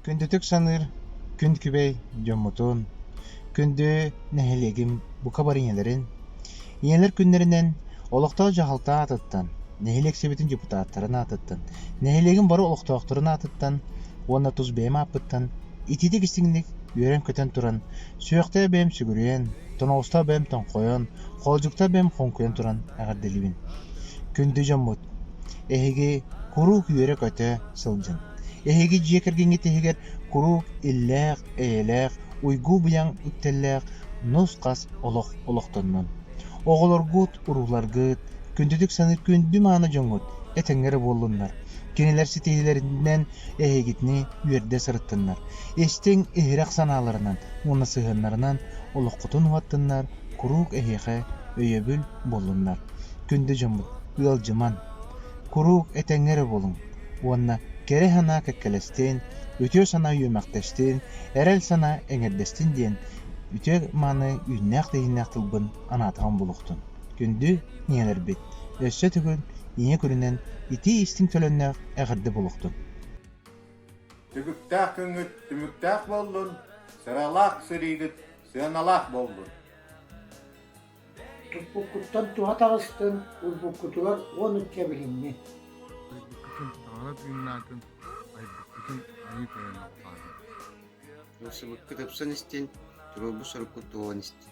Күндүтүк саныыр күн күбэй дьоммутун, күндү нэһилиэгим бука барыйаларын, ийэлэр күннэринэн олохтоох дьаһалта аатыттан, нэһилиэк сибэтин депутаттарын аатыттан, нэһилиэгим бары олохтоохторун аатыттан уонна тус бэйэм ааппыттан итиитик-истиҥник үөрэн-көтөн туран Сүрэхтэрэ бэйэм сүгүрүйэн, тоноҕосторо бэйэм тоҥхойон, хоолдьуктара бэйэм хоҥкуйан туран эҕэрдэлиибин. Күндү дьоммут! Эһиги куруук үөрэ-көтө сылдьыҥ. Эһиги дьиэ кэргэҥҥит иһигэр куруук иллээх, эйэлээх, уйгу-быйаҥ үктэллээх нус-хас олох олохтоннун. Оҕолоргут, урууларгыт, күндүтүк саныыр күндү-мааны дьоҥҥут этэҥҥэ эрэ буоллуннар. Кинилэр ситиһиилэринэн эһигитини үөрдэ сырыттыннар, истиҥ иһирэх санааларынан уонна сыһыаннарынан олоххутун уһаттыннар, куруук эһиэхэ өйөбүл буоллуннар. Күндү дьоммут, ыалдьыман, куруук этэҥҥэ эрэ буолуҥ уонна кэрэ санаа кэккэлэстин, үтүө санаа үөмэхтэстин, эрэл санаа эҥэрдэстин диэн үтүө-мааны үүннээх-тэйииннээх тылбын анаатаҕым булуохтун. Күндү ийэлэрбит, өссө төгүл ийэ көрүнэн итии-истиҥ төлөннөх эҕэрдэ булуохтун! Түбүктээх күҥҥүт түмүктээх буоллун, сыралаах сырыыгыт сыаналаах буоллун! Туппуккуттан туһа таҕыстын, урбуккутугар уон ыкка билиҥҥи. Айбыккытын таҥара тыыннаатын, айбыккытын айыы тойон алҕаатын. Ылсыбыккыт ыксан истин, туруорбут соруккут туолан истин.